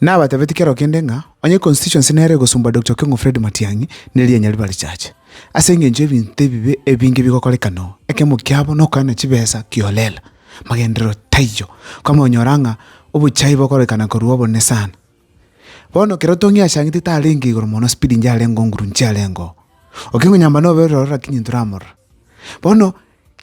Nabatebetie kero kende ng'a onye Constituency nere egosomba Dokta Okeng'u Fred Matiang'i, ne rianya riba richache, ase engencho y'ebinto ebibe ebinge bigokorekana oo. Ekemo kiabo nokoena chibesa kiholela. Magenderero taiyo. Kwamonyora ng'a obochai bokorekana korwa obonene sana. Bono kero Tong'i achang'ete tarenge igoro mono speed inche arenge oo nguru inche arenge oo. Okeng'u nyamba nobe ororo rakinyi ntoramorora. Bono.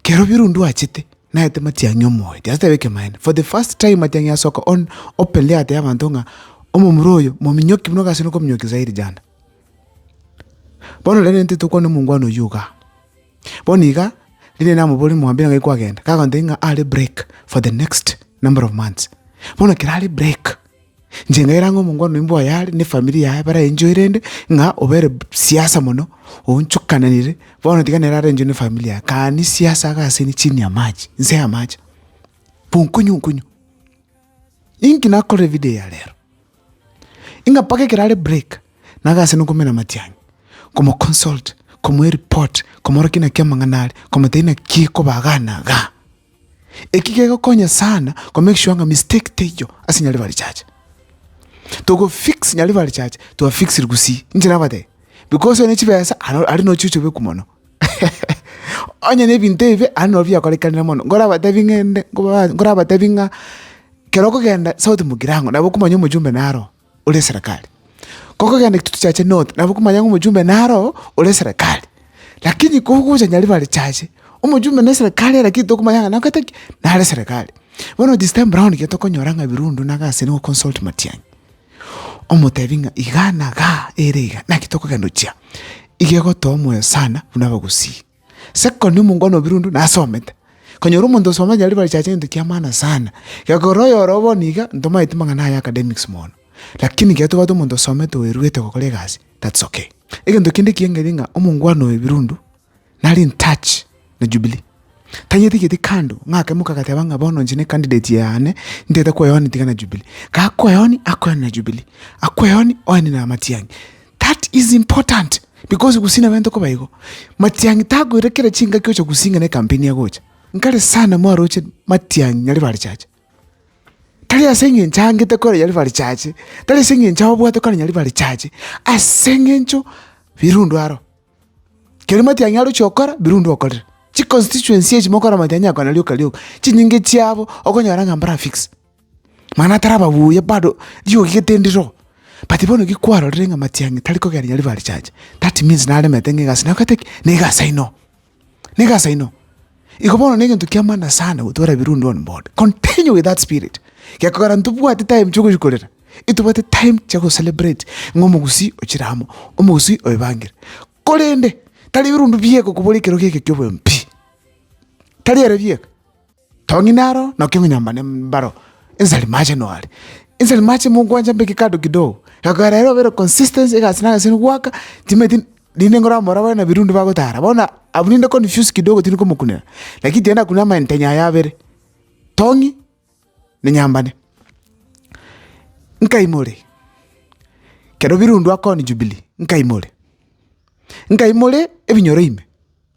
Kerobio rundi oachete, naete Matiang'i omoeti, asetebe ekemanyererio. For the first time Matiang'i asoka on openly atebia abanto ng'a omomura oyo mominyoki buna gose nokominyokia zaidi jana. Bono rende nintete tokwane omongwana oyio igaa. Bono igaa, rinde namobore mwambire ng'ai kwagenda, kagontebia ng'a are break for the next number of months. Bono ekero are break. Inche nkaira ng'a omongwana oyio mbwoye are nefamiri yaye bare encho erende ng'a obere siasa mono, oonchokananire, bono tiga nere are encho nefamiri yaye, kani siasa iga ase inche chini ya mache, inse y'amache, bonkonyo nkonyo. Inki nakorire ebidio ya rero? Ing'a mpaka ekero are break, nabe ase nokomena matiang'i, komoconsult, komoa ereport, komorokia naki amang'ana are, komotebia naki ekoba igaa na igaa. Eki gegokonya sana ko make sure ng'a mistake teiyo ase nyaribari chacha. Togo fix nyaribari chacha to have fixed gusii inche nabatebia because one chibesa are are nochio chobeku mono onye na ebinto ebibe are nabo biakorekanire mono nkorabatebi ng'ende nkoba nkorabatebi ng'a kero okogenda sauti mogirango nabo okomanya omojumbe naro oo. ore eserekari. Kogogenda egitutu chiache north, nabo komanya ng'a omochumbe naro oo ore eserekari. Lakini kogocha Nyaribare chiache, omochumbe na eserekari lakini tokomanya ng'a nagokete ki? Nare eserekari. Bono this time round ekero tokonyora ng'a Birundu na Gasi nigo consult Matiang'i, omotebi ng'a igaa na igaa ere igaa, naki tokogenda gochia? Iga egotoa omoyo sana buna abagusii. Second omongwana obirwe onde nasomete, konyora omonto osomete nyarebe achache egento kia maana sana. Gekogera oyoro bono iga ntomanyeti mang'ana aye academics mono, lakini ekiagera tobwate omonto osomete oeruete gokora egasi that's okay. Egento kende ekiya nkeria ng'a omongwana oyo oebirundu nare in touch na Jubilee, tanyetigeti kando ng'a akemoka agateba ng'a bono inche ne candidate yane ntagete koeonia tiga na Jubilee. Gakoeonia akoeonia na Jubilee, akoeonia oenie na amatiang'i. That is important because gusii nabo ntoko baigo matiangi takoira kera chingaki ocha gusii ng'a ne campaign agocha nkare sana mwaroche matiangi ng'a river church tari ase eng'encho angete kore ya river church tari ase eng'encho abwate kore ya river church ase eng'encho birundu aro keri matiangi aroche gokora birundu okorire chiconstituency echi mokora matiangi ako na rioka rioka chinyinge chiabo okonyora ng'a mbarafix. Mani atarababuya bado riogi gete ndiroo, but bono ki kwarorire ng'a matiang'i tari kogera riria ribare chacha, that means naremete ng'a egasi nakorete ki? Na egasi inoo, na egasi inoo. Igo bono na egento kia maana sana gotwara ebirundi on board, continue with that spirit, gekogera ntobwati time chia ogochi korera, etobwate time chia go celebrate ng'a omogusii ochire amo, omogusii oebangire. Korende tari ebirundu bieka okoboria ekero geke kia oboyo pi, tari ere bieka. Tong'ina aro naki ong'inyambane mbaro inse aria mache noare inse aria mache mogwancha mbeke kando kidogo ekegoera ere obere consistent egasi na egasi goaka timanyeti rinde ngora omoro abare na ebirundi bagotara bono abwo rinde confuse kidogo tindi komokunera lakini tiende akunere amaentenya aya abere tong'i na nyambane. Nkaimore kero birundu akoni jubilee nkaimore nkaimore ebinyoro ime.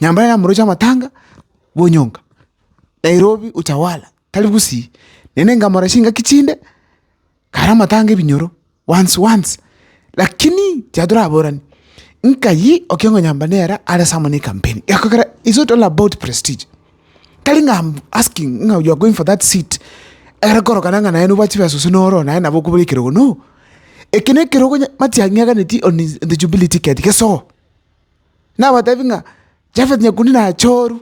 Nyambura ere namoroche amatanga bonyonga, Nairobi Utawala, tari Gusii, naende nkamora chingaki chinde, kare amatanga ebinyoro once once, lakini chiaye toraboranie, nkayi Okengo Nyambura nere are someone ne campaign, gekogera it's not all about prestige, tari ng'a am asking ng'a you are going for that seat ere korokana ng'a naye noboa chibesa gose noro naye nabo okobere ekerogo, no! Eke nekerogo nya mati ang'eganeti on his on the Jubilee ticket, gesogo. nabatebi ng'a Jafeti nyakundi nachoru,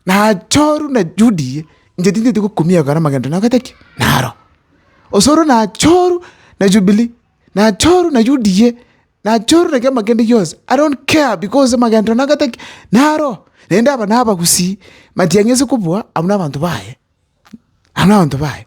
nachoru na Juda eye, inche tinteti gokumia ekero amagento nagokete ki? Naro. Osoro nachoru na Jubilee, nachoru na Juda eye, nachoru na ekiama kende gionsi, I don't care because amagento nagokete ki? Naro. Naende aba nabagusii, matiang'i ase kobua abwo nabanto baye, abwo nabanto baye.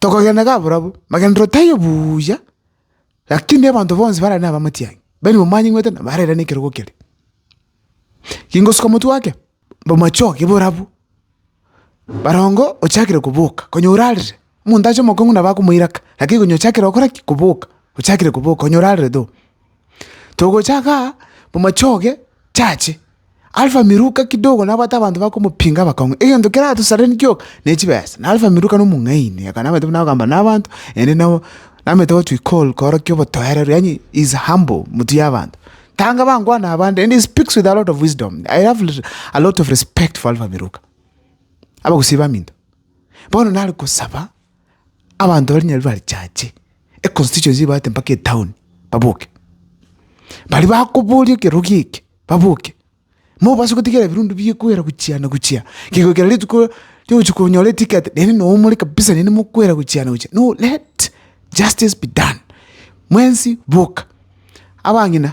Tokogenda iga barabwo, magenderero taiyo buuya, rakini abanto bonsi bararenge na abamatiang'i, bari bamanyigwete na barera na ekerogo kere. Gingosuka omotwe ake, bomachoge borabwo, barongo ochakire koboka, konya orarire, omonto ache omokong'u nabo akomoiraka, rakini konya ochakire gokora ki? Koboka, ochakire koboka, konya orarerete oo. Togocha igaa, bomachoge. Chache, Alfa miruka kidogo nabwate abanto bakomopinga bakong'a egento keratosareranie gioka ne chibesa. Na Alfa miruka nomong'aini, akanamete buna agokamba nabanto, ere nabo namete gochia ikoru korokia obotoereru, yaani he is humble motwe y'abanto. Tanga bangwana abande and he speaks with a lot of wisdom. I have a lot of respect for Alfa miruka. Abagusii baminto. Bono nare gosaba. abanto baria nyabiire barichache econstituency ebaete mpaka etown baboke. Baria bakoboria ekerogo eke baboke, mobase gotigera ebirundu biekwera gochia na gochia, kegokera rituko riogochia konyora eticket naende noo more kabisa naende mokwera gochia na gochia, no let justice be done, mwensi boka abang'ina.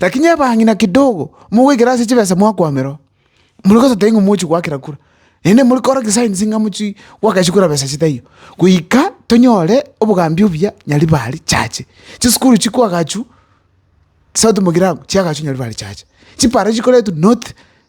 Lakini abang'ina kidogo mogoikera ase chibesa mwakwamerwa, mori gosateria ng'a mogochia goakera kura, naende mori kora kisaini ng'a mochi goakeresia kura besa chitaiyo, goika tonyore obogambi obuya Nyaribari chache. Chisukuru chikoagachu, South Mogirabu chiagachu Nyaribari chache. Chipara chikoretwa North.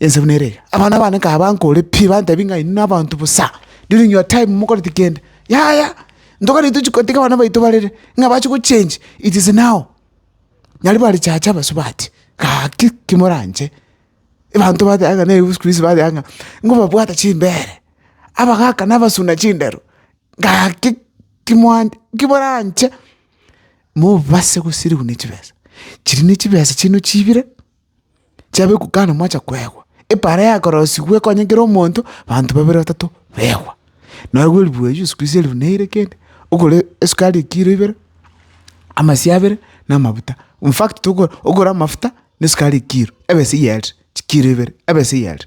Ense buna ere iga. Abana bane kabankore pi, bantebie ng'a inwe nabanto bosa, during your time mokoreti kende. Yaya, ntogani tochi kotiga abana baito barere, ng'a bache gochenji, it is now. Nyari barechache abasubati, gaki ki moranche. Ebanto bateba ng'a nebibe siku hizi bateba ng'a ngobabwate chimbeere, abagaka nabasuna chindero, gaki ki moan ki moranche, mobase gosiriwa ne chibesa. Chiri ne chibesa chiaino chiibire. chiabekwa kando mwacha kwegwa, epaara yakorosigwa ekonye kera omonto, banto babere batato begwa. Nabo bwe ribuyu riesu kwisi erifu na eire kende, okore esukari ekiro ibere, amasio abere, na amafuta. In fact tokora okore amafuta, na esukari ekiro, ebesa eyerire, chikiro ibere, ebesa eyerire.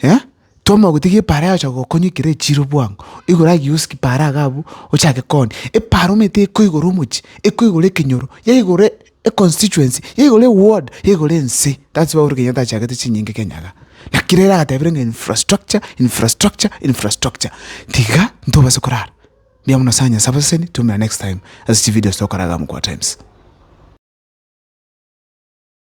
Eh, twamanya gotiga epaara yagocha gokonya ekero echiire obwango, igoro agiya osike epaara iga abwo, ochake koonia. Epaara omanyete ekoigora omochie, ekoigora ekenyoro, yaigora e- econstituency, yaigora eward, yaigora ense. That's why Uhuru Kenyatta achagete chinyinga Kenya iga. Naki rero agatebire ng'a infrastructure, infrastructure, infrastructure. Tiga ntobase korara. Mbuya mono sana Nyasae abasesenie, twaumera next time ase chivideos togokora iga amo kwa Times.